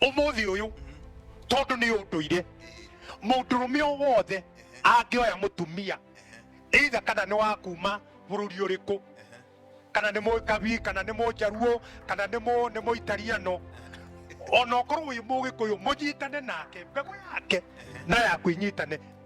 umuthi uyu tondu ni unduire mundurume o wothe angioya mutumia either kana ni wa kuma bururi uriku kana ni mukabi kana ni munjaruo kana ni mu ni muitariano ona okorwo wi mugikuyu munyitane nake mbegu yake na yaku inyitane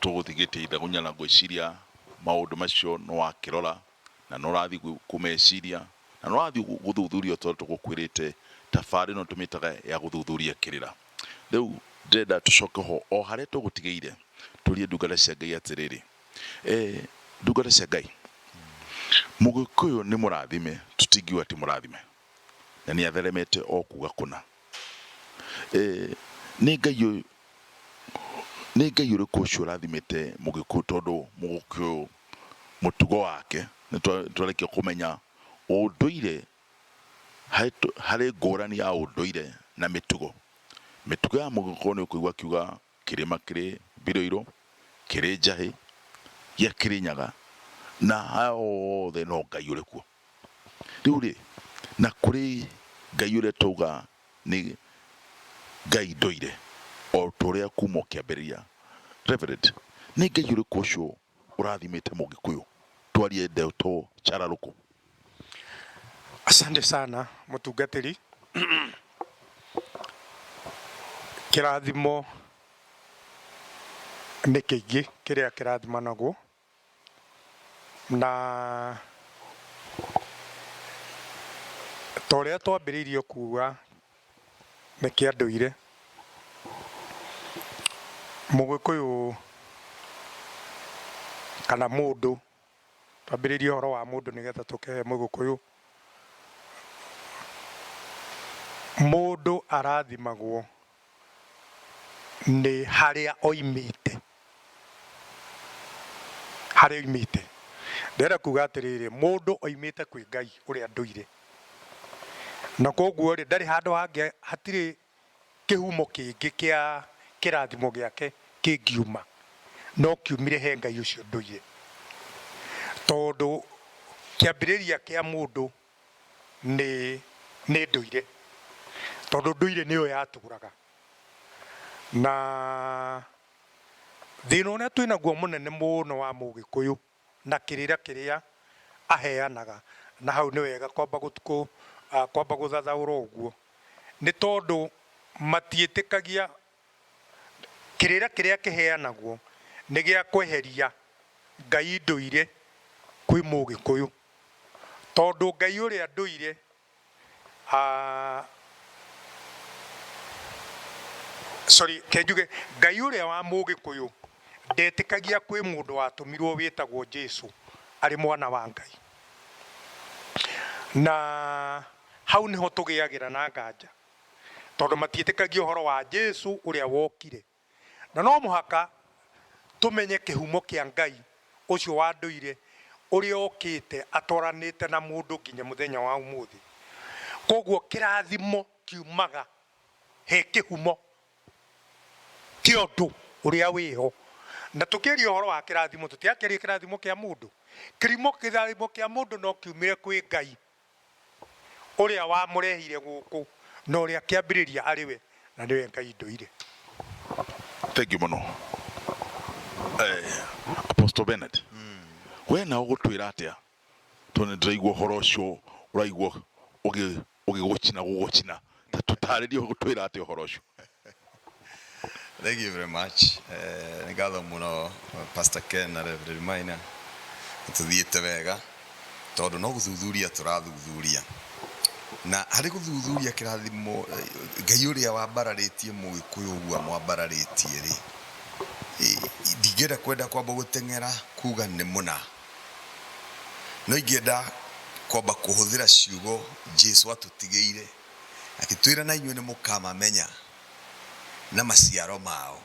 Tũgũthiĩ gĩtĩ Ithagunya na ngwĩciria maũndũ macio nĩ wakĩrora na nĩ ũrathiĩ kũmeciria na nĩ ũrathiĩ gũthuthuria o ta ũrĩa tũgũkwĩrĩte. Tabarĩra ĩno tũmĩtaga ya gũthuthuria kĩrĩra. Rĩu ndĩrenda tũcoke ho o harĩa tũgũtigĩire tũrie ndungata cia Ngai atĩrĩrĩ, Ndungata cia Ngai, Mũgĩkũyũ nĩ mũrathime, tũtingiuga ti mũrathime. Na nĩ atheremete o kuuga kũna. Ee, nĩ Ngai ũyũ, nĩ Ngai ũrĩkũ ũcio ũrathimĩte Mũgĩkũyũ tondũ Mũgĩkũyũ mũtugo wake, nĩ twa- nĩ twarĩkia kũmenya ũndũire, harĩ tũ- harĩ ngũrani ya ũndũire na mĩtugo. Mĩtugo ya Mũgĩkũyũ nĩ ũkũigua akiuga kĩrĩma kĩrĩ Biroirũ, kĩrĩ Njahĩ, gĩa Kĩrĩnyaga, na aya othe no Ngai ũrĩ kuo. Rĩu-rĩ, na kũrĩ Ngai ũrĩa twauga nĩ Ngai ndũire, o ta ũrĩa kuuma o kĩambĩrĩria. Reverend, nĩ Ngai ũrĩkũ ũcio ũrathimĩte Mũgĩkũyũ? Twarie ndeto cararũkũ. Asante sana mũtungatĩri. Kĩrathimo nĩ kĩingĩ kĩrĩa kĩrathimanagwo Na ta ũrĩa twambĩrĩirie kuuga nĩ kĩa ndũire, Mũgĩkũyũ kana mũndũ, twambĩrĩrie ũhoro wa mũndũ nĩgetha tũke he Mũgĩkũyũ. Mũndũ arathimagwo. nĩ harĩa oimĩte, harĩa oimĩte. Ndĩrenda kuga atĩrĩrĩ, mũndũ oimĩte kwĩ Ngai ũrĩa ndũire, na koguo rĩ, ndarĩ handũ hangĩ, hatirĩ kĩhumo kĩngĩ kĩa kĩrathimo gĩake kĩngiuma, no kiumire he Ngai ũcio ndũire, tondũ kĩambĩrĩria kĩa mũndũ. nĩ nĩ ndũire, tondũ ndũire nĩyo yatũraga. Na thĩna ũrĩa twĩ naguo mũnene mũno wa mũgĩkũyũ na kĩrĩra kĩrĩa aheanaga, na hau nĩ wega kwamba kwamba gũthathaũra ũguo, nĩ tondũ matiĩtĩkagia Kĩrĩra kĩrĩa kĩheanagwo nĩ gĩa kweheria Ngai ndũire kwĩ Mũgĩkũyũ. Tondũ Ngai ũrĩa ndũire sorry reke njuge Ngai ũrĩa wa Mũgĩkũyũ ndetĩkagia kwĩ mũndũ watũmirwo wĩtagwo Jesu arĩ mwana wa Ngai. Na hau nĩho tũgĩagĩra na nganja tondũ matiĩtĩkagia ũhoro wa Jesu ũrĩa wokire. Na no mũhaka tũmenye kĩhumo kĩa Ngai ũcio wa ndũire ũrĩa ũũkĩte atwaranĩte na mũndũ nginya mũthenya wa ũmũthĩ. Kwoguo kĩrathimo kiumaga he kĩhumo kĩa ũndũ ũrĩa wĩho. Na tũkĩaria ũhoro wa kĩrathimo tũtirakĩaria kĩrathimo kĩa mũndũ. Kĩrathimo kĩa mũndũ no kiumĩre kwĩ Ngai. Ũrĩa wamũrehire gũkũ na ũrĩa kĩambĩrĩria arĩ we na nĩwe Ngai ndũire. Thengiũ mũno Apostle Bennett, we na ũgũtwĩra atĩa tondũ nĩndĩraigua ũhoro ũcio ũraigua ũgĩgũcina gũgũcina Ta tũtaarĩrie gũtwĩra atĩa ũhoro ũcio Thank you very much. Eh, nĩ ngatho mũno Pastor Ken na Reverend Maina. Tũthiĩte wega tondũ no gũthuthuria tũrathuthuria. Na harĩ gũthuthuria kĩrathimo eh, Ngai ũrĩa wambararĩtie mũgĩkũyũ ũguo amwambararĩtie rĩ. eh, Ndingĩenda kwenda kwamba gũteng'era kuga nĩ mũna. No ingĩenda kwamba kũhũthĩra ciugo Jesu atũtigĩire akĩtwĩra na inyuĩ nĩ mũkamamenya na maciaro mao.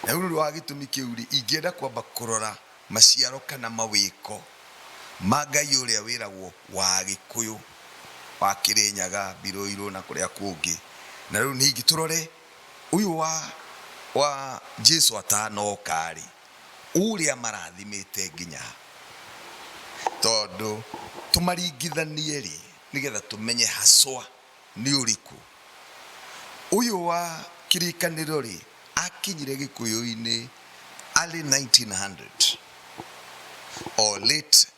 Na nĩ ũndũ wa gĩtũmi kĩu rĩ, ingĩenda kwamba kũrora maciaro kana mawĩko ma Ngai ũrĩa wĩragwo wa Agĩkũyũ wa Kĩrĩnyaga, Mbirũirũ na kũrĩa kũngĩ. Na rĩu ningĩ tũrore ũyũ wa wa Jesu atanoka rĩ, Ũrĩa marathimĩte nginya ha? Tondũ tũmaringithanie-rĩ, nĩgetha tũmenye haswa nĩ ũrĩkũ. Ũyũ wa kĩrĩkanĩro-rĩ, akinyire gĩkũyũ-inĩ arĩ 1900 or late.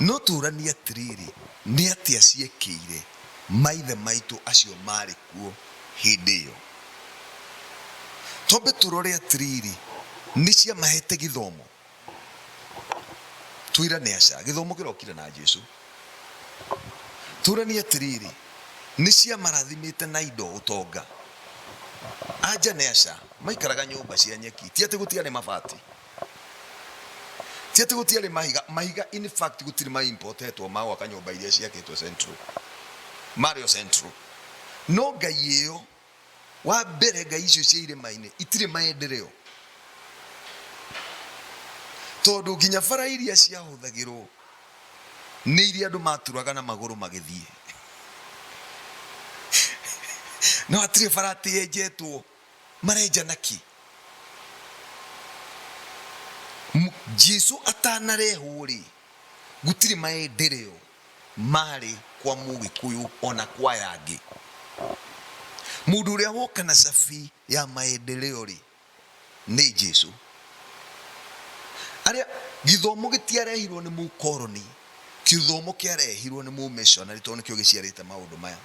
No tũũranie atĩrĩrĩ, Nĩ atĩa ciekĩire maithe maitũ acio maarĩ kuo hĩndĩ ĩyo? Twambe tũrore atĩrĩrĩ, Nĩ ciamaheete gĩthomo? Twĩra nĩ aca. Gĩthomo kĩrokire na Jesu. Tũũranie atĩrĩrĩ, Nĩ ciamarathimĩte na indo, ũtonga? Anja nĩ aca. Maikaraga nyũmba cia nyeki. Ti atĩ gũtiarĩ mabati. ti ati gutiarä mahiga mahiga in fact gutirä ma importetwo ma gwaka nyå mba iria ciakĩtwo central marä o central no ngai ä yo wa mbere ngai icio cia irĩma-inĩ itirĩ maendereo tondå nginya bara iria ciahũthagĩrwo nĩ iria andå maturaga na magũrũ magĩthiĩ no hatirĩ bara atĩ yenjetwo Marenjana ki. M Jesu atanarehwo-rĩ, gũtirĩ maendereo maarĩ kwa Mũgĩkũyũ o na kwa aya angĩ. Mũndũ ũrĩa woka na cabi ya maendereo-rĩ, nĩ Jesu. Arĩa, gĩthomo gĩtiarehirwo nĩ mũkoroni. Kĩthomo kĩarehirwo nĩ mũmĩshonarĩ tondũ nĩkĩo gĩciarĩte maũndũ maya.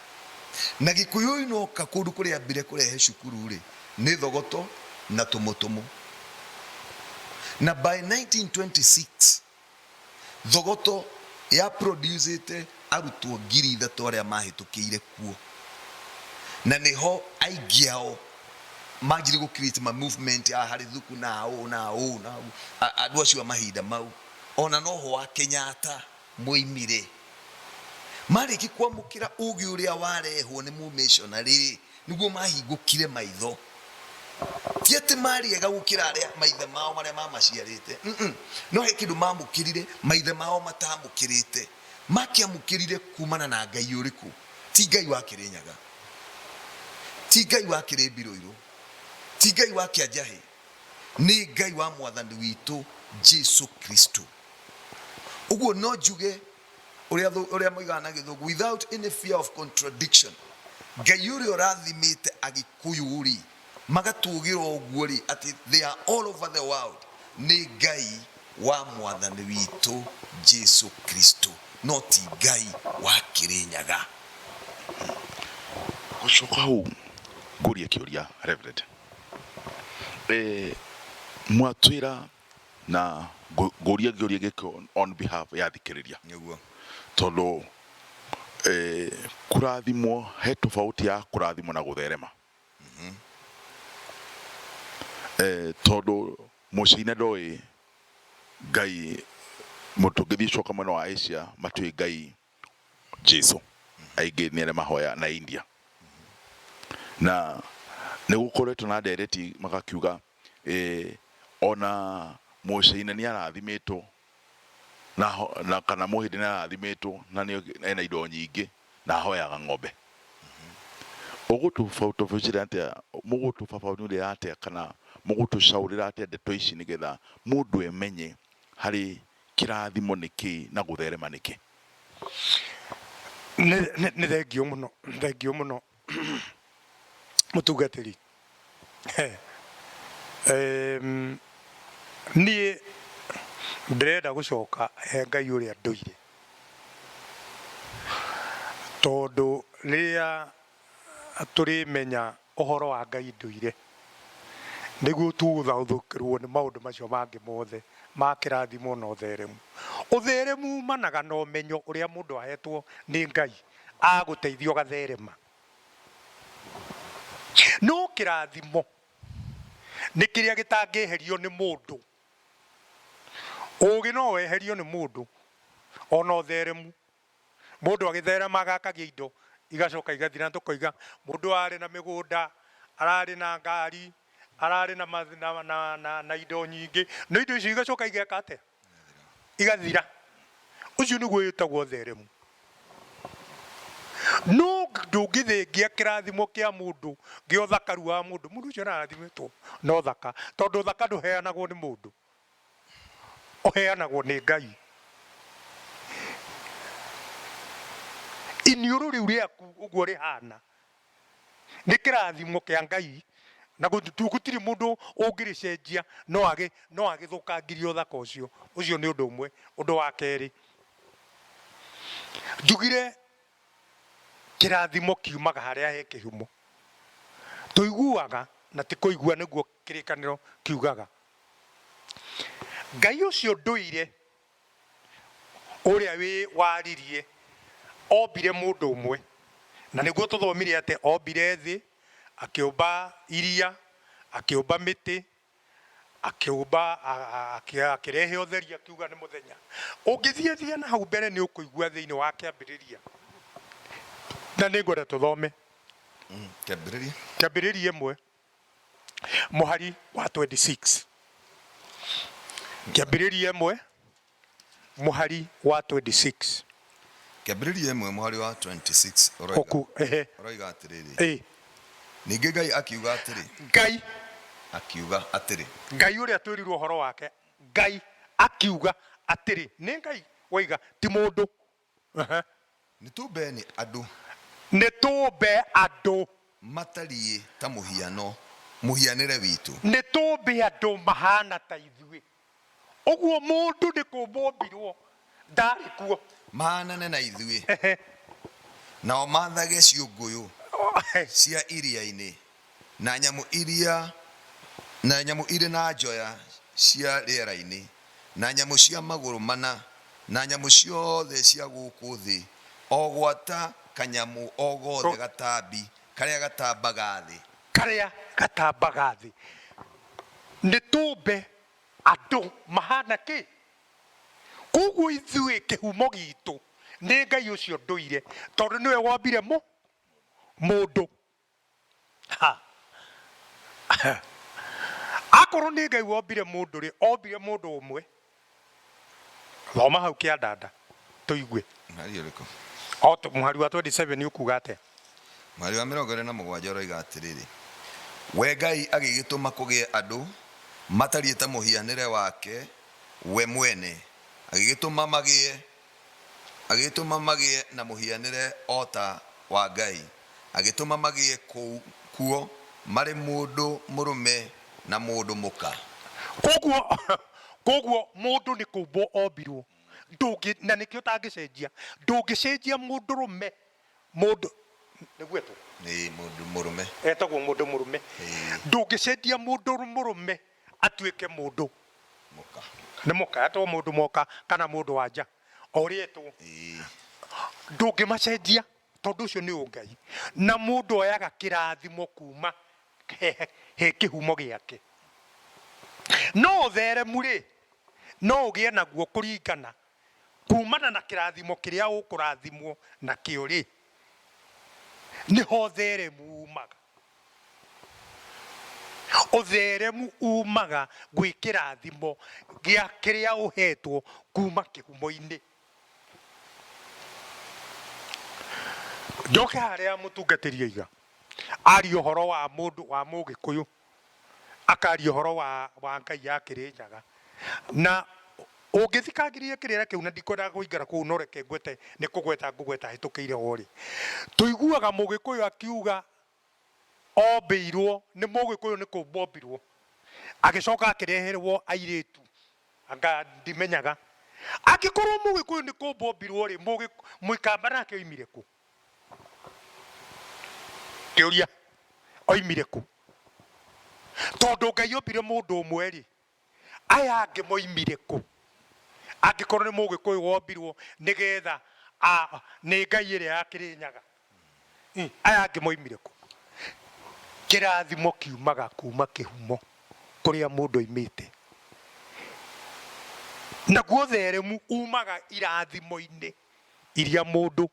Na Gĩkũyũ inoka kũndũ kũrĩambire kũrehe cukuru-rĩ, nĩ thogoto na tũmũtũmũ. Na by 1926, thogoto ya producĩte arutwo ngiri ithatũ arĩa mahĩtũkĩire kuo. Na nĩho aingĩ ao manjirie gũ create ma movement a harĩ thuku na a ũũ na a ũũ na a ũũ, andũ acio a mahinda mau. Ona noho wa Kenyatta mũimi rĩ, marĩki kwamũkĩra ũgĩ ũrĩa warehwo nĩ mũmĩshonarĩ rĩ, nĩguo mahingũkire maitho. Ti atĩ marĩ ega gũkĩra arĩa maithe mao marĩa mamaciarĩte, mm, no he kĩndũ mamũkĩrire maithe mao matamũkĩrĩte. Makĩamũkĩrire kumana na Ngai ũrĩkũ? Ti Ngai wa Kĩrĩnyaga, ti Ngai wa Kĩrĩmbirũirũ, ti Ngai wa Kĩanjahĩ. nĩ Ngai wa Mwathani witũ Jesu Kristo. Ũguo no njuge ũrĩa thũ- ũrĩa moigaga na gĩthũngũ without any fear of contradiction ngai ũrĩa ũrathimĩte agĩkũyũ rĩ magatũgĩra ũguo rĩ atĩ they are all over the world nĩ ngai wa mwathani witũ jesu kristo no ti ngai wa kĩrĩnyaga gũcoka hau ngũrie kĩũria reverend Eh, mwatwira na ngũ- ngũria ngĩũria gĩkĩ on behalf ya thikĩrĩria nĩguo tondũ eh, kũrathimwo he tofauti ya kũrathimwo na gũtherema eh, tondũ mũcine ndoĩ ngai mũndũ tũngĩthiĩ coka mwena wa asia matiũĩ ngai Jesu aingĩ nĩ arĩa mahoya na India na nĩ gũkoretwo na ndereti magakiuga eh, ona mũcaina nĩ arathimĩtwo na, ho- na kana mũhĩndĩ nĩ arathimĩtwo na nĩ ena indo nyingĩ na ahoyaga ng'ombe ũgũtũbautabicira atĩa mũgũtũbabanurĩra atĩa kana mũgũtũcaũrĩra atĩa ndeto ici nĩgetha mũndũ emenye harĩ Kĩrathimo nĩ kĩ na gũtherema nĩ kĩ? Nĩ thengiũ mũno, thengiũ mũno mũtungatĩri. Niĩ ndĩrenda gũcoka he Ngai ũrĩa ndũire, tondũ rĩrĩa tũrĩmenya ũhoro wa ngai ndũire, nĩguo tũgũthaũthũkĩrũo nĩ maũndũ macio mangĩ mothe ma kĩrathimo na ũtheremu. Ũtheremu umanaga na ũmenyo ũrĩa mũndũ ahetwo nĩ Ngai agũteithia ũgatherema. No kĩrathimo nĩ kĩrĩa gĩtangĩeherio nĩ mũndũ. Ũgĩ no weherio nĩ mũndũ, ona ũtheremu Mũndũ agĩtherema agakagia indo igacoka igathira, nĩ tũkoiga mũndũ ararĩ na mĩgũnda, ararĩ na ngari, ararĩ na ma, na, na, na, na indo nyingĩ, no indo icio igacoka igeka atĩa? Igathira. Ũcio nĩguo wĩtagwo ũtheremu. No ndũngĩthengia kĩrathimo kĩa mũndũ, gĩa ũthakaru wa mũndũ. Mũndũ ũcio no arathimĩtwo na ũthaka, tondũ ũthaka ndũheanagwo nĩ mũndũ, ũheanagwo nĩ Ngai. Iniũrũ rĩu rĩaku ũguo rĩhana nĩ kĩrathimo kĩa Ngai na gũtirĩ mũndũ ũngĩrĩcenjia no agĩthũkangirie ũthaka ũcio. Ũcio nĩ ũndũ ũmwe. Ũndũ wa kerĩ, njugire kĩrathimo kiumaga harĩa he kĩhumo. Tũiguaga na ti kũigua nĩguo Kĩrĩkanĩro kiugaga, Ngai ũcio ndũire, ũrĩa wĩwaririe, ombire mũndũ ũmwe. Na nĩguo tũthomire atĩ ombire thĩ, akĩũmba iria, akĩũmba mĩtĩ, akĩũmba, akĩrehe ũtheri akiuga nĩ mũthenya. Ũngĩthiathia na hau mbere nĩ ũkũigua thĩinĩ wa Kĩambĩrĩria, na nĩ ngwenda tũthome Kĩambĩrĩria ĩmwe. mũhari wa 26. Kĩambĩrĩria ĩmwe mũhari wa 26. Kĩambĩrĩria ĩmwe mũhari wa 26 ũroiga, Ũku, ehe, ũroiga atĩrĩrĩ, ĩ, ningĩ Ngai akiuga atĩrĩ, Ngai, akiuga atĩrĩ, Ngai ũrĩa twĩrirwo ũhoro wake, Ngai akiuga atĩrĩ, nĩ Ngai waiga, ti mũndũ Ehe. Nĩtũũmbe nĩ andũ. Nĩtũũmbe andũ. Matariĩ ta mũhiano, mũhianĩre witũ. Nĩtũũmbe andũ mahaana ta ithuĩ. Ũguo mũndũ nĩ kũũmbwo oombirwo ndaarĩ kuo. Mahaanane na ithuĩ. Ehe. Nao maathage ciũngũyũ cia iria-inĩ. Na nyamũ iria, na nyamũ irĩ na njoya cia rĩera-inĩ, na nyamũ cia magũrũ mana, na nyamũ ciothe cia gũkũ thĩ, o gwata kanyamũ o gothe gatambi, karĩa gatambaga thĩ. Karĩa gatambaga thĩ. Nĩtũũmbe andũ mahaana kĩ? Kwoguo ithuĩ kĩhumo giitũ nĩ Ngai ũcio ndũire, tondũ nĩwe wombire mũ, mũndũ. Ha! Ha! Akorwo nĩ Ngai wombire mũndũ rĩ, ombire mũndũ ũmwe? Thoma hau kĩandanda tũigue. Mweri ũrĩkũ? O tũ- mũhari wa 27 ũkuga atĩa? Mweri wa mĩrongo ĩĩrĩ na mũgwanja ũroiga atĩrĩrĩ, We Ngai agĩgĩtũma kũgĩe andũ matariĩ ta mũhianĩre wake we mwene, agĩgĩtũma magĩe Agĩtũma magĩe na mũhianĩre o ta wa Ngai, agĩtũma magĩe kuo marĩ mũndũ mũrũme na mũndũ mũka. Kwoguo, kwoguo mũndũ nĩ kũmbwo ombirwo, ndũngĩ, na nĩkĩo ũtangĩcenjia, ndũngĩcenjia mũndũrũme, mũndũ, nĩguo etwo? Ĩĩ, mũndũ mũrũme. Etagwo mũndũ mũrũme. Ĩĩ. Ndũngĩcenjia mũndũ mũrũme. Atuĩke mũndũ nĩ mũka, etwo mũndũ mũka kana mũndũ wa nja, o ũrĩa etwo, ndũngĩmacenjia tondũ ũcio nĩ ũngai. Na mũndũ oyaga kĩrathimo kuuma he kĩhumo gĩake. No ũtheremu-rĩ, no ũgĩe naguo kũringana Kuumana na kĩrathimo kĩrĩa ũkũrathimwo nakĩo-rĩ, nĩ ho ũtheremu uumaga. Ũtheremu uumaga gwĩ kĩrathimo gĩa kĩrĩa ũhetwo kuuma kĩhumo-inĩ. Njoke harĩa mũtungatĩri oiga, aria ũhoro wa mũndũ wa Mũgĩkũyũ. akaria ũhoro wa, wa ngai ya kĩrĩ nyaga na ũngĩthikangĩrĩria kĩrĩra kĩu na ndikwendaga kũingĩra kũu no reke ngwete nĩ kũgweta ngũgweta hĩtũkĩire ho rĩ tũiguaga mũgĩkũyũ akiuga ombĩirwo nĩ mũgĩkũyũ nĩ kũmbwo ombirwo agĩcoka akĩreherwo airĩtu anga ndimenyaga angĩkorwo mũgĩkũyũ nĩ kũmbwo ombirwo rĩ mũgĩ- mũikamba nake oimire kũ Kĩũria, Oimire kũ? Tondũ Ngai ombire mũndũ ũmwe-rĩ, aya angĩ moimire kũ? Angĩkorwo nĩ Mũgĩkũyũ wombirwo nĩ getha a, nĩ ngai ĩrĩa ya Kĩrĩnyaga, ĩ aya angĩ moimire kũ? Kĩrathimo kiumaga kuma kĩhumo kũrĩa mũndũ aumĩte. Naguo ũtheremu umaga irathimo-inĩ. iria mũndũ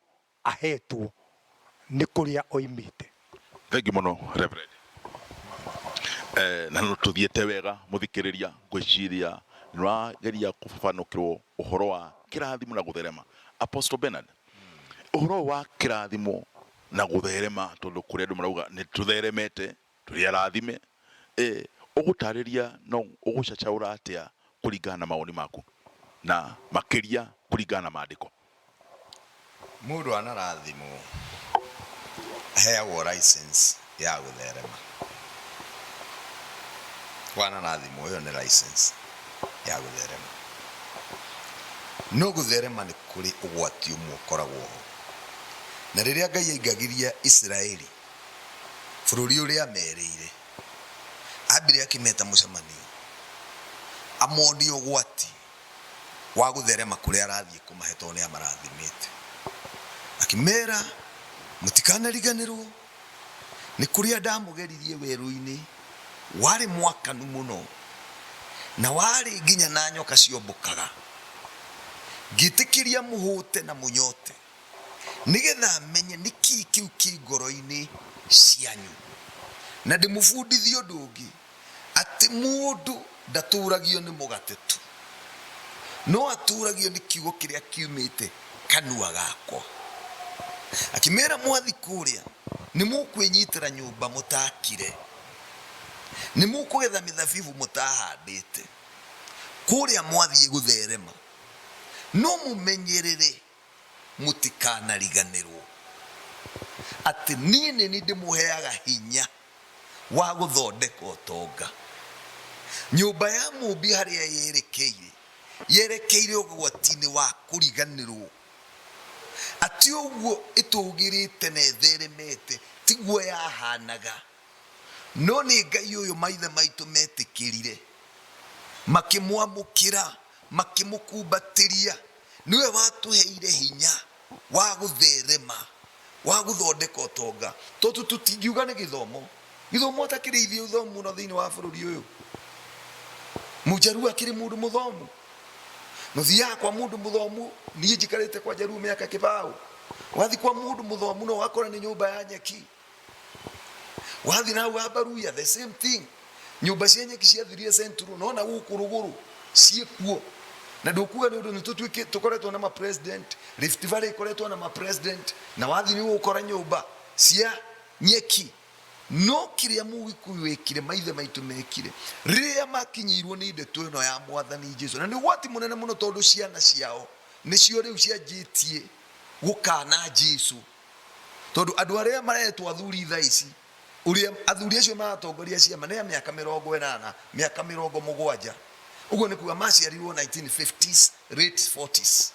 ahetwo nĩ kũrĩa oimĩte. Thengiũ mũno Reverend. Eh, na no tũthiĩte wega mũthikĩrĩria ngwĩciria nĩwageria kũbabanũkĩrwo ũhoro wa kĩrathimo na gũtherema Apostle Bernard ũhoro wa kĩrathimo na gũtherema tondũ kũrĩ andũ marauga nĩ tũtheremete Tũrĩ arathime. Ĩ ũgũtaarĩria no ũgũcacaũra atĩa kũringana na mawoni maku, na makĩria kũringana na Maandĩko? Mũndũ anarathimwo aheagwo license ya gũtherema. Wanarathimwo ĩyo nĩ license ya gũtherema. No gũtherema nĩ kũrĩ ũgwati ũmwe ũkoragwo ho. Na rĩrĩa Ngai aingagĩria Isiraeli bũrũri ũrĩa aameereire. Aambire akĩmeta mũcemanio amonie ũgwati wa gũtherema kũrĩa arathiĩ kũmahe tondũ nĩ amarathimĩte. Akĩmeera, Mũtikanariganĩrwo nĩ kũrĩa ndamũgeririe werũ-inĩ, warĩ mwakanu mũno na warĩ nginya na nyoka ciombũkaga, ngĩtĩkĩria mũhũte na mũnyote. nĩgetha menye nĩ kĩĩ kĩu kĩ ngoro-inĩ cianyu. Na ndĩmũbundithie ũndũ ũngĩ, atĩ mũndũ ndatũũragio nĩ mũgate tu, no atũũragio nĩ kiugo kĩrĩa kiumĩte kanua gakwa. Akĩmera, Mwathiĩ kũũrĩa nĩ mũkwĩnyitĩra nyũmba mũtaakire, nĩ mũkũgetha mĩthabibũ mũtahandĩte, kũũrĩa mwathiĩ gũtherema no mũmenyerere Mũtikanariganĩrũo atĩ niĩ nĩ niĩ ndĩmũheaga hinya wa gũthondeka ũtonga. Nyũmba ya Mũũmbi harĩa yerekeire, yerekeire ũgwati-inĩ wa kũriganĩrũo. A Ti ũguo ĩtũũgĩrĩte na ĩtheremete, tiguo yahaanaga. No nĩ Ngai ũyũ maithe maitũ meetĩkĩrire, makĩmwamũkĩra, makĩmũkumbatĩria. Nĩwe watũheire hinya wa gũtherema, wa gũthondeka ũtonga. Tondũ tũtingiuga nĩ gĩthomo, gĩthomo ta kĩrĩ ithuĩ ũthomu mũno thĩinĩ wa bũrũri ũyũ. Mũjaruo akĩrĩ mũndũ mũthomu. Mũthiaga kwa mũndũ mũthomu, niĩ njikarĩte kwa Jaruo mĩaka kĩbaũ. Wathiĩ kwa mũndũ mũthomu no ũgakora nĩ nyũmba ya nyeki. wathi na hau ambaruya the same thing nyumba cia nyeki ciathirie central nona gũkũ rũgũrũ ciĩ kuo na ndũkuga nĩ ũndũ nĩ tũkoretwo na mapresident rift valley ikoretwo na mapresident na wathi nĩ ũgũkora nyũmba cia nyeki no kĩrĩa mũgĩkũyũ wekire maithe maitũ mekire rĩrĩa makinyĩirwo nĩ ndeto ĩno ya mwathani jesu na nĩ ũgwati mũnene mũno tondũ ciana ciao nĩcio rĩu cianjĩtie gũkana jesu Tondũ andũ arĩa maretwo athuri thaa ici, ũrĩa athuri acio maratongoria ciama nĩ a mĩaka mĩrongo ĩnana, mĩaka mĩrongo mũgwanja. Ũguo nĩ kuga maciarirwo 1950s, late 40s.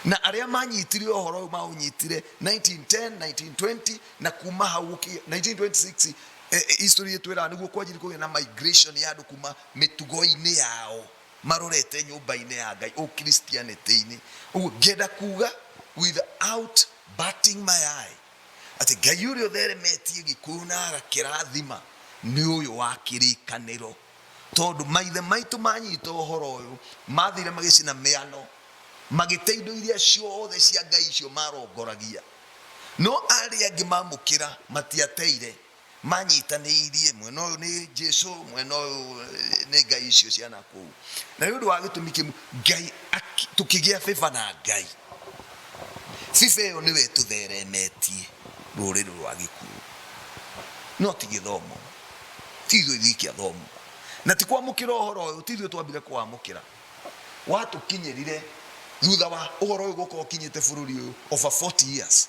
Na arĩa manyitire ũhoro ũyũ maũnyitire 1910, 1920 na kuma hau gũkinya 1926 eh, eh, history ĩtwĩraga nĩguo kwanjirie kũgĩa na migration ya andũ kuma mĩtugo-inĩ yao. marorete nyũmba-inĩ ya Ngai ũkristianĩtĩ-inĩ. Ũguo ngĩenda kuga without batting my eye, atĩ Ngai ũrĩa ũtheremetie gĩkũyũ na agakĩrathima nĩ ũyũ wa kĩrĩkanĩro, tondũ maithe maitũ manyita ũhoro ũyũ mathire magĩcina mĩano magĩte indo iria ciothe cia Ngai icio marongoragia, no arĩa angĩ mamũkĩra matiateire manyitanĩirie mwena ũyũ nĩ Jesu mwena ũyũ eh, nĩ ngai icio cia nakũu na nĩ ũndũ wa gĩtũmi kĩmwe ngai aki- tũkĩgĩa bĩba na ngai bĩba ĩyo nĩwe ĩtũtheremetie rũrĩrĩ rwa gĩkuũ no ti gĩthomo ti ithuĩ ithuiki athomo na ti kwamũkĩra ũhoro ũyũ ti ithuĩ twambire kwamũkĩra watũkinyĩrire thutha wa ũhoro ũyũ gũkorwo ũkinyĩte bũrũri ũyũ over 40 years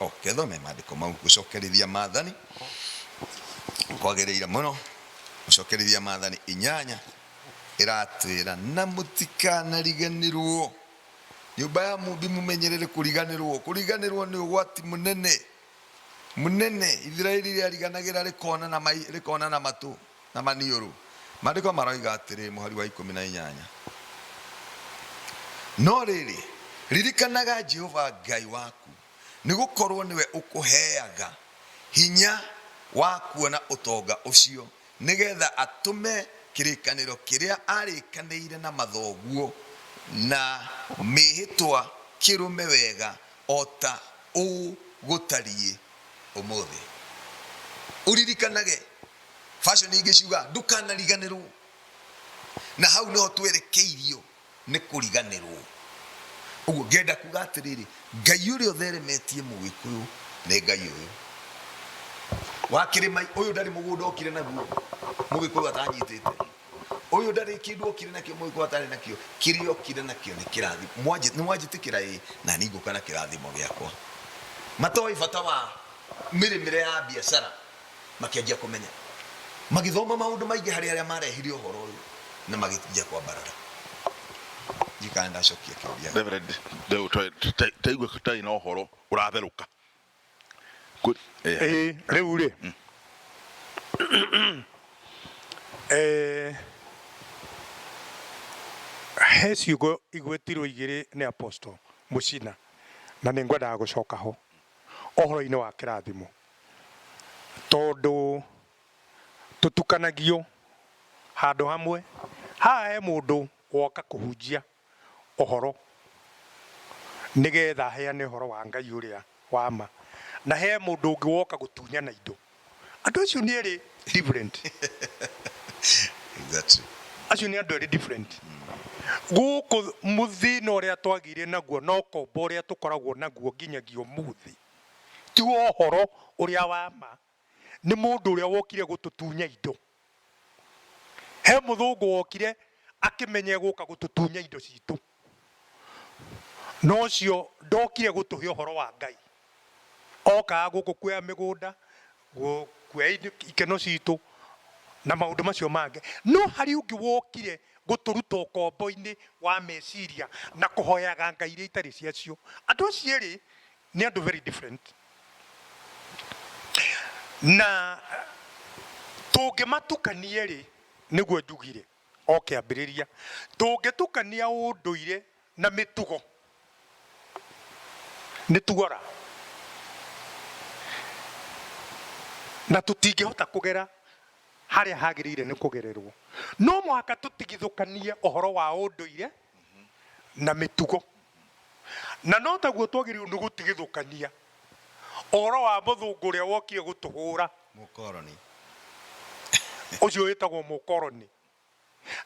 Okay, thome maandĩko mau. Gũcokerithia maathani kwagĩrĩire mũno. Gũcokerithia maathani inyanya ĩratwĩra na mũtikanariganĩrwo nyũmba ya mũmbi mũmenyerere kũriganĩrwo kũriganĩrwo nĩ ũgwati mũnene mũnene ithiraeli rĩariganagĩra rĩkona na mai- rĩkona na matũ Na maniũrũ. Maandĩko maroiga atĩrĩ, mũhari wa ikũmi na inyanya, No rĩrĩ, ririkanaga Jehova Ngai waku, nĩ gũkorũo nĩwe ũkũheaga hinya wa kuona ũtonga ũcio, nĩgetha atũme kĩrĩkanĩro kĩrĩa aarĩkanĩire na mathoguo na mĩĩhĩtwa kĩrũme wega o ta ũũ gũtariĩ ũmũthĩ. Ũririkanage fashion ingĩ ciuga ndukanariganĩrwo na hau nĩho twerekeirio nĩ kũriganĩrwo ũguo ngenda kuga atĩrĩrĩ ngai ũrĩa ũtheremetie mũgĩkũyũ nĩ ngai ũyũ wa kĩrĩma ũyũ ndarĩ mũgũnda okire naguo mũgĩkũyũ atanyitĩte ũyũ ndarĩ kĩndũ okire nakĩo mũgĩkũyũ atarĩ nakĩo kĩrĩa okire nakĩo nĩ kĩrathi Mwanjĩ- nĩ mwanjĩtĩkĩra ĩ na ningũka na kĩrathimo gĩakwa matoĩ bata wa mĩrĩmĩre ya biacara makĩanjia kũmenya magĩthoma maũndũ maingĩ harĩ arĩa marehire ũhoro ũyũ na magĩthiia kwambarara njikana ndacokia kĩũria Reverend, rĩu twa- ta- taigue tũtarĩ na ũhoro ũratherũka Kũ- eh, Ĩĩ, rĩu rĩ Eh, he ciugo igwetirwo igĩrĩ nĩ apostle mũcina na nĩ ngwendaga gũcoka ho ũhoro-inĩ wa kĩrathimo tondũ tũtukanagio handũ hamwe. Haha he mũndũ woka kũhunjia ũhoro nĩgetha aheane ũhoro wa Ngai ũrĩa wa ma, na he mũndũ ũngĩ woka gũtunyana indo. Andũ acio nĩ erĩ different. Acio nĩ andũ erĩ different. Gũkũ thĩna ũrĩa twagĩire naguo na ũkombo ũrĩa tũkoragwo naguo nginyagia ũmũthĩ, Ti wa ũhoro ũrĩa wa ma. Nĩ mũndũ ũrĩa wokire gũtũtunya indo. He mũthũngũ wokire akĩmenya egũka gũtũtunya indo citũ. No ũcio ndokire gũtũhe ũhoro wa Ngai. Okaga gũkũ kuoya mĩgũnda, gũkuoya ikeno citũ na maũndũ macio mangĩ. No harĩ ũngĩ wokire gũtũruta ũkombo-inĩ wa meciria na kũhoyaga ngai iria itarĩ cia cio. Andũ acio erĩ nĩ andũ very different. Na tũngĩmatukania rĩ, nĩguo njugire o kĩambĩrĩria, tũngĩtukania ũndũire... Na mĩtugo nĩ tuora na tũtingĩhota kũgera harĩa hagĩrĩire nĩ kũgererwo. No mũhaka tũtigithũkanie ũhoro wa ũndũire na mĩtugo. Na no taguo twagĩrĩirwo nĩ gũtigithũkania ũhoro wa mũthũngũ ũrĩa wokire gũtũhũra. Mũkoroni. Ũcio wĩtagwo mũkoroni.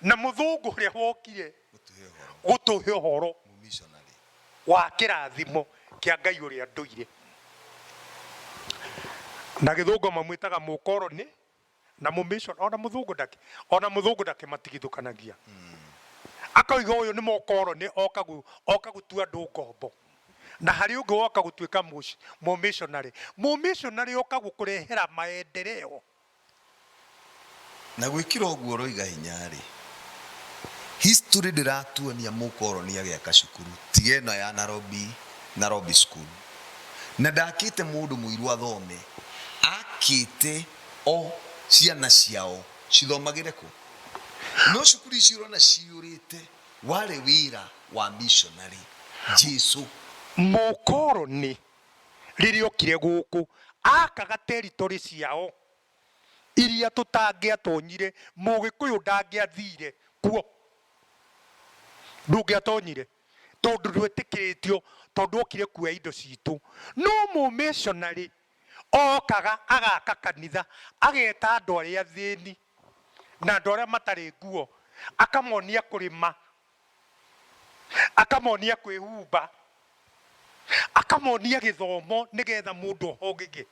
na mũthũngũ ũrĩa wokire gũtũhe ũhoro gũtũhe ũhoro mũmissionary wa kĩrathimo kĩa Ngai ũrĩa ndũire. Na gĩthũngũ mamwĩtaga mũkoroni na mũmission, ona mũthũngũ ndakĩ ona mũthũngũ ndakĩmatigithũkanagia. Akoiga ũyũ nĩ mũkoroni oka gũ- oka gũtua andũ ngombo, na harĩ ũngĩ woka gũtuĩka mũci- mũmissionary. Mũmissionary oka gũkũrehera maendereo Na gwĩkĩra ũguo ũroiga hinya-rĩ, history ndĩratuonia mũkoroni agĩaka cukuru tiga ĩno ya Narobi, Narobi school. Na ndakĩte mũndũ mũirũ athome, akĩte o ciana ciao cithomagĩre kũ? No cukuru ici ũrona ciyũrĩte warĩ wĩra wa missionary, Jesu. Mũkoroni rĩrĩa okire gũkũ, akaga territory ciao iria tũtangĩatonyire, mũgĩkũyũ ndangĩathire kuo, ndũngĩatonyire tondũ ndwetĩkĩrĩtio, tondũ okire kuoya indo citũ. No mũ missionary okaga agaka kanitha, ageta andũ arĩa athĩni na andũ arĩa matarĩ nguo, akamonia kũrĩma. akamonia kwĩhumba akamonia gĩthomo nĩgetha mũndũ ohogĩge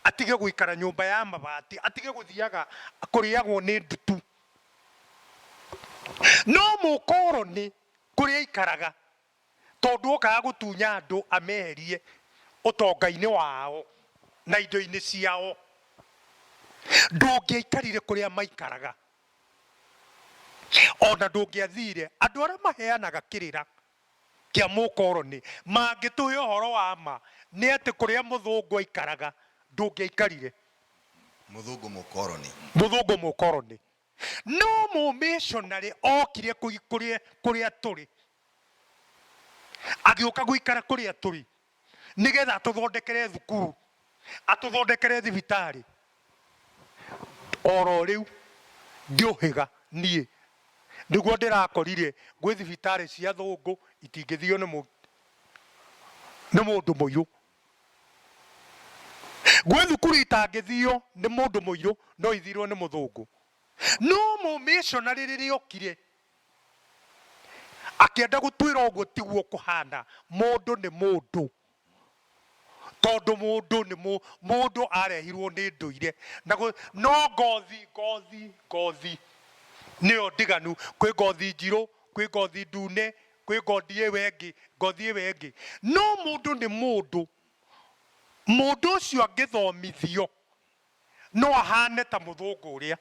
atige gũikara nyũmba ya mabati atige gũthiaga kũrĩagwo nĩ ndutu no mũkoroni kũrĩa aikaraga tondũ okaga gũtunya andũ ameherie ũtonga-inĩ wao na indo-inĩ ciao ndũngĩaikarire kũrĩa maikaraga Ona ndũngĩathire. Andũ arĩa maheanaga kĩrĩra kĩa mũkoroni mangĩtũhe ũhoro wa ma nĩ atĩ kũrĩa mũthũngũ aikaraga ndũngĩaikarire. Mũthũngũ mũkoroni. Mũthũngũ mũkoroni. No mũmĩshonarĩ okire kũrĩa tũrĩ. Agĩũka gũikara kũrĩa tũrĩ. nĩgetha atũthondekere thukuru, atũthondekere thibitarĩ, oro rĩu ngĩũhĩga niĩ nĩguo ndĩrakorire gwĩ thibitarĩ cia athũngũ itingĩthio nĩ mũ, nĩ mũndũ mũirũ. Gwĩ thukuru itangĩthio nĩ mũndũ mũirũ no ithirwo nĩ mũthũngũ. No mũ missionary rĩrĩa okire Akĩenda gũtwĩra ũguo tiguo kũhana, mũndũ nĩ mũndũ, tondũ mũndũ nĩ mũ, mũndũ arehirwo nĩ ndũire, na gũ, no ngothi, ngothi, ngothi nĩyo ndiganu, kwĩ ngothi njirũ, kwĩ ngothi ndune, kwĩ ngothi ĩyo ĩngĩ, ngothi ĩyo ĩngĩ, no mũndũ nĩ mũndũ, mũndũ ũcio angĩthomithio no ahaane ta mũthũngũ ũrĩa.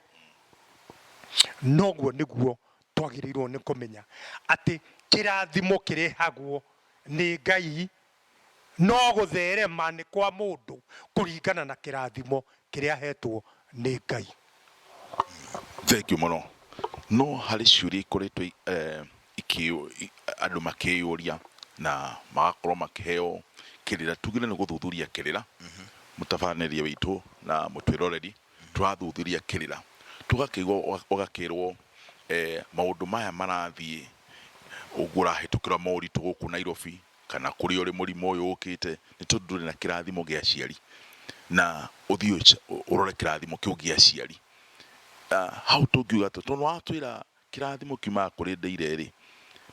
Na ũguo nĩguo twagĩrĩirũo nĩ kũmenya atĩ kĩrathimo kĩrehagwo nĩ Ngai no gũtherema nĩ kwa mũndũ kũringana na kĩrathimo kĩrĩa ahetwo nĩ Ngai. Thengiũ mũno. No harĩ ciũria ikoretwo andũ makĩyũria na magakorwo makĩheo kĩrĩra. Tuge nĩ gũthuthuria kĩrĩra, mũtabaranĩria witũ na mũtwĩroreri tũrathuthuria kĩrĩra, tũgakĩigua ũgakĩrwo maũndũ maya marathiĩ ũguo ũrahĩtũkĩra moritũ gũkũ Nairobi kana kũrĩa ũrĩ mũrimũ ũyũ ũkĩte nĩ tondũ ndũrĩ na kĩrathimo gĩa aciari. Na ũthiĩ ũrore kĩrathimo kĩu gĩa aciari, hau tũngiuga atĩa tondũ nĩ watwĩra... Kĩrathimo kiumaga kũrĩ Ndĩire-rĩ,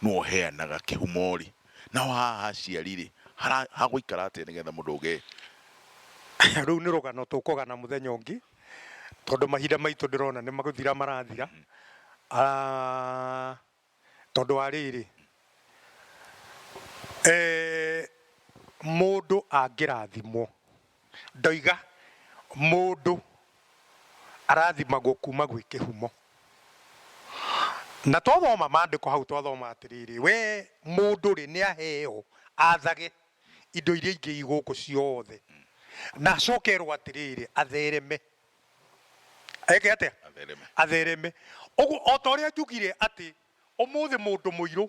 nũũ ũheanaga kĩhumo-rĩ, naho haha ha Aciari-rĩ, hara, hagũikara atĩa nĩgetha mũndũ ũgee? Rũu nĩ rũgano tũkũgana mũthenya ũngĩ, tondũ mahinda maitũ ndĩrona nĩ gũthira marathira, tondũ wa rĩrĩ, mũndũ angĩrathimwo. Ndoiga mũndũ arathimagwo kuuma gwĩ kĩhumo. Na twathoma maandĩko hau twathoma atĩrĩrĩ, we mũndũ rĩ nĩ aheo athage indo iria ingĩ i gũkũ ciothe, na acoke erwo atĩrĩrĩ athereme. Eke atĩa? Athereme. Athereme. Ũguo o ta ũrĩa njugire atĩ Ũmũthĩ mũndũ mũirũ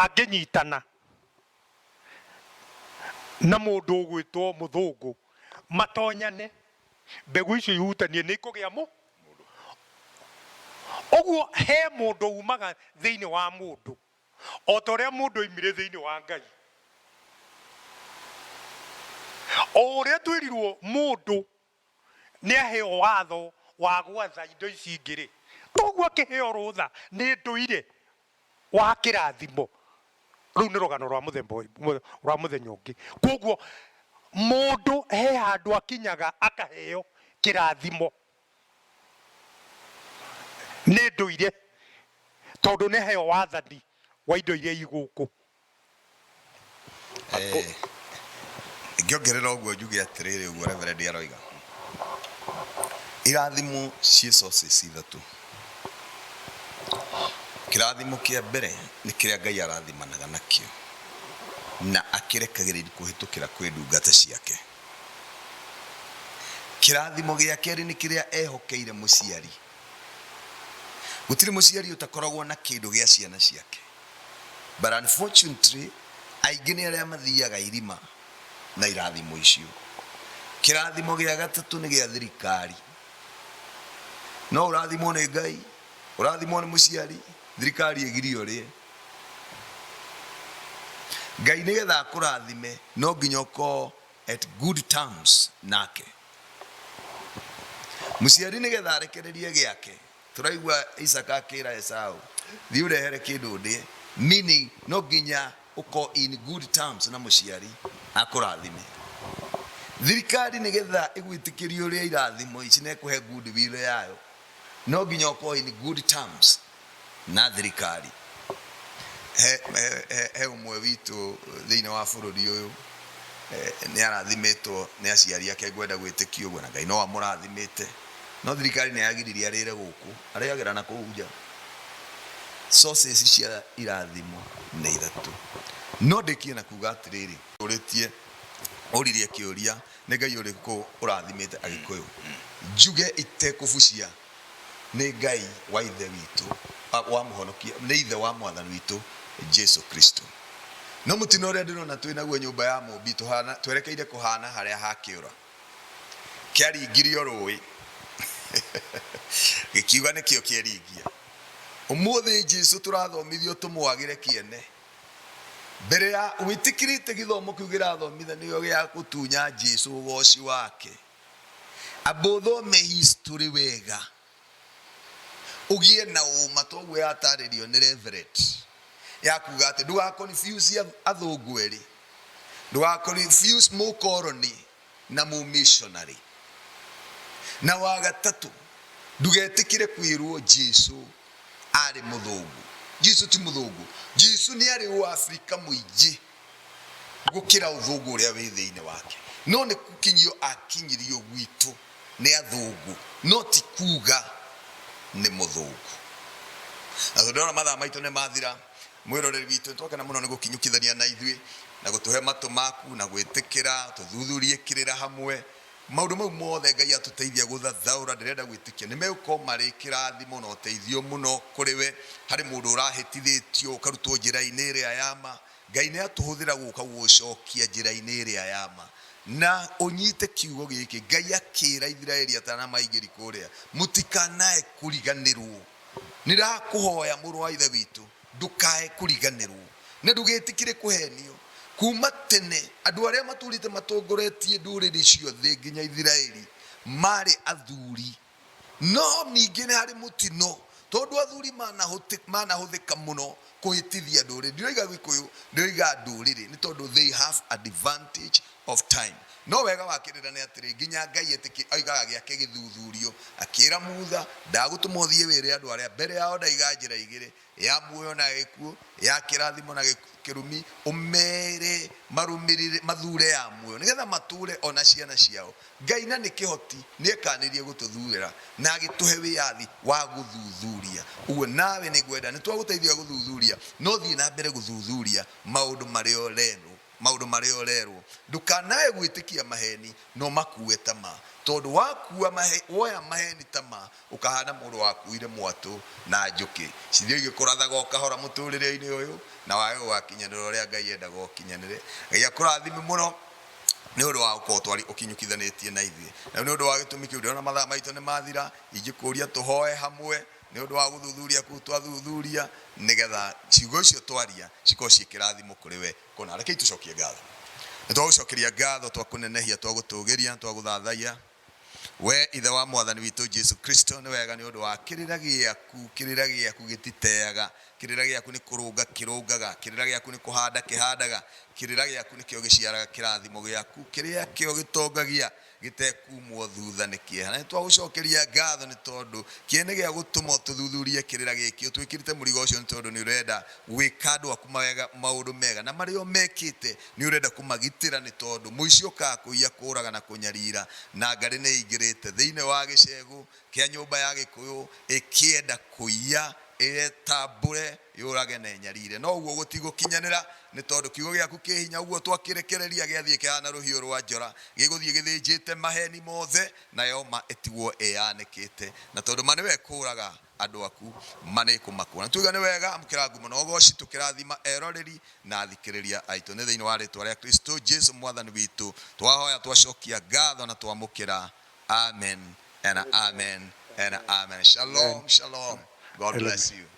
angĩnyitana na mũndũ ũgwĩtwo mũthũngũ matonyane, mbegũ icio ihutanie nĩ ikũgĩa mũ. Ũguo he mũndũ umaga thĩinĩ wa mũndũ, o ta ũrĩa mũndũ oimire thĩinĩ wa Ngai. O ũrĩa twerirwo mũndũ nĩaheo watho wa gwatha indo ici ingĩ-rĩ, kwoguo akĩheo rũtha nĩ ndũire wa kĩrathimo, rũu nĩ rũgano rwa mũthemba ũngĩ, rwa mũthenya ũngĩ. Kwoguo mũndũ he handũ akinyaga akaheo kĩrathimo nĩ ndũire, tondũ nĩaheo wathani wa indo iria i gũkũ Eh, ngĩongerera ũguo njuge atĩrĩrĩ ũguo reverendi aroiga irathimo ciĩ sources ithatũ kĩrathimo kĩa mbere nĩ kĩrĩa ngai arathimanaga nakĩo na akĩrekagĩrĩria kũhĩtũkĩra kwĩ ndungata ciake kĩrathimo gĩa kerĩ nĩ kĩrĩa ehokeire mũciari gũtirĩ mũciari ũtakoragwo na kĩndũ gĩa ciana ciake But unfortunately, aingĩ nĩ arĩa mathiaga irima na irathimo icio. Kĩrathimo gĩa gatatũ nĩ gĩa thirikari. No ũrathimwo nĩ Ngai, ũrathimwo nĩ mũciari, thirikari ĩgirie ũrĩe. Ngai nĩgetha akũrathime no nginya ũkorwo at good terms nake. Mũciari nĩgetha arekererie gĩake Tũraigua Isaka akĩra Esau, thiĩ ũrehere kĩndũ ndĩe, meaning no nginya ũko in good terms na mũciari akũrathime. Thirikari nĩ getha ĩgwĩtĩkĩrie ũrĩa irathimo ici na ĩkũhe good will yayo, no nginya ũko in good terms na thirikari. He, he, he, he ũmwe witũ thĩinĩ wa bũrũri ũyũ eh, nĩ arathimĩtwo nĩ aciari ake ngwenda gwĩtĩkia ũguo na Ngai no amũrathimĩte No thirikari nĩ yagiririe arĩre gũkũ, arĩagĩra na kũu nja. Sources cia irathimo nĩ ithatũ. No ndĩkie na kuuga atĩrĩrĩ. Ũrĩtie, ũririe kĩũria, nĩ Ngai ũrĩkũ ũrathimĩte Agĩkũyũ? Njuge itekũbucia, nĩ Ngai wa Ithe witũ, wa Mũhonokia, nĩ Ithe wa Mwathani witũ Jesu Kristo. No mũtino ũrĩa ndĩrona twĩ naguo nyũmba ya Mũũmbi, tũhana, twerekeire kũhana harĩa ha kĩũra. Kĩaringirio rũũĩ gĩkiuga nĩkĩo kĩeringia. Ũmũthĩ Jesu tũrathomithio tũmwagĩre kĩene. Mbere ya wĩtĩkĩrĩte gĩthomo kĩu gĩrathomithanio gĩa gũtunya Jesu ũgooci wake, amba ũthome history wega. ũgĩe na ũma ta ũguo yatarĩrio nĩ Reverend ya kuga atĩ ndũga confuse athũngũ erĩ ndũga confuse mũkoroni na mũ missionary na wagatatũ ndugetĩkĩre kwĩrwo Jesu arĩ mũthũngũ Jesu ti mũthũngũ Jesu nĩ arĩ ũafrika mũingĩ gukira uthungu uria wi thiini wake no ni gukinyio akinyirio gwitu ni athungu no ti kuga ni muthungu na tondu ndona mathaa maitu ni mathira mwiroreri witu ni twakena muno ni gukinyukithania na ithui na gutuhe matu maku na gwitikira tuthuthurie kirira hamwe Maũndũ mau mothe Ngai atũteithia gũthathaũra ndĩrenda gwĩtĩkia nĩ megũkorwo marĩ kĩrathimo na ũteithio mũno kũrĩ we. Harĩ mũndũ ũrahĩtithĩtio ũkarutwo njĩra-inĩ ĩrĩa ya ma, Ngai nĩ atũhũthĩra gũka gũgũcokia njĩra-inĩ ĩrĩa ya ma. Na ũnyite kiugo gĩkĩ, Ngai akĩra Ithiraeli atanamaingĩri kũrĩa, Mũtikanae kũriganĩrwo. Nĩndakũhoya mũrũ wa Ithe witũ. Ndũkae kũriganĩrwo, na ndũgetĩkĩre kũheenio. Kuuma tene, andũ arĩa matũũrĩte matongoretie ndũrĩrĩ ciothe nginya Isiraeli maarĩ athuuri. No ningĩ nĩ harĩ mũtino, tondũ athuuri manahũthĩka mũno kũhĩtithia ndũrĩrĩ. Ndiroiga Gĩkũyũ, ndĩroiga ndũrĩrĩ, nĩ tondũ they have advantage of time. No wega wa kĩrĩra nĩ atĩrĩ, nginya Ngai etĩkĩre, oigaga gĩake gĩthuthurio, akĩĩra Mutha, Ndagũtũma ũthiĩ wĩre andũ arĩa, mbere yao ndaiga njĩra igĩrĩ, ya muoyo na gĩkuũ, ya kĩrathimo na kĩrumi, ũmeere marũmĩrĩre, mathuure ya muoyo, nĩgetha matũũre o na ciana ciao. Ngai na nĩ kĩhoti, nĩ ekanĩrie gũtũthuurĩra na agĩtũhe wĩyathi wa gũthuthuria. Ũguo nawe nĩ ngwenda, nĩ twagũteithia gũthuthuria, no thiĩ na mbere gũthuthuria maũndũ marĩa ũrerwo. Maũndũ marĩa ũrerwo. Ndũkanae gwĩtĩkia maheni, no makuue ta ma. Tondũ wakuua mahe, woya maheni ta ma, ũkahaana mũndũ wakuuire mwatũ na njũkĩ. Cithio igĩkũrathaga o kahora mũtũũrĩre-inĩ ũyũ, na wage gũgakinyanĩra ũrĩa Ngai endaga ũkinyanĩre. Ngai akũrathime mũno nĩ ũndũ wa gũkorwo twarĩ ũkinyũkithanĩtie na ithuĩ. Rĩu nĩ ũndũ wa gĩtũmi kĩu, ndĩrona mathaa maitũ nĩ mathira, ingĩkũũria tũhoe hamwe. Nĩ ũndũ wa gũthuthuria kũu twathuthuria, nĩ getha ciugo icio twaria cikorwo ciĩ kĩrathimo kũrĩ we. Kũna, rekei tũcokie ngatho. Nĩ twagũcokeria ngatho, twakũnenehia, twagũtũũgĩria, twagũthathaiya, wee Ithe wa Mwathani witũ Jesu Kristo. Nĩ wega nĩ ũndũ wa kĩrĩra gĩaku, kĩrĩra gĩaku gĩtiteaga, kĩrĩra gĩaku nĩ kũrũnga kĩrũngaga, kĩrĩra gĩaku nĩ kũhanda kĩhandaga, kĩrĩra gĩaku nĩkĩo gĩciaraga kĩrathimo gĩaku, kĩrĩa kĩo gĩtongagia Gĩtekuumwo thuutha nĩ kĩeha. Na nĩtwagũcookeria ngaatho nĩ tondũ kĩeha nĩ gĩa gũtũma ũtũthuthuurie kĩrĩra gĩkĩ. Ũtwĩkĩrĩte mũrigo ũcio nĩ tondũ nĩũrenda gwĩka andũ aku mawega, maũndũ mega. Na marĩa ũmekĩte nĩũrenda kũmagitĩra nĩ tondũ mũici okaga kũiya, kũũraga na kũnyariira. Na ngarĩ nĩĩingĩrĩte thĩinĩ wa gĩceegũ kĩa nyũmba ya Gĩkũyũ ĩkĩenda kũiya, ĩyetambũre. Yũrage na ĩnyariire. No ũguo gũtigũkinyanĩra, nĩ tondũ kiugo gĩaku kĩ hinya, ũguo twakĩrekereria gĩathiĩ kĩhaana rũhiũ rwa njora, gĩgũthiĩ gĩthĩnjĩte maheeni mothe, nayo ma ĩtigwo ĩĩanĩkĩte. Na tondũ ma nĩwe ĩkũũraga andũ aku, ma nĩĩkũmakũũra. Nĩtwaiga nĩ wega, amũkĩra ngumo na ũgooci, tũkĩrathima eroreri na athikĩrĩria aitũ. Nĩ thĩinĩ wa rĩĩtwa rĩa Kristũ Jesũ Mwathani witũ twahoya, twacokia ngatho na twamũkĩra. Amen and Amen and Amen. Shalom, shalom. God bless you.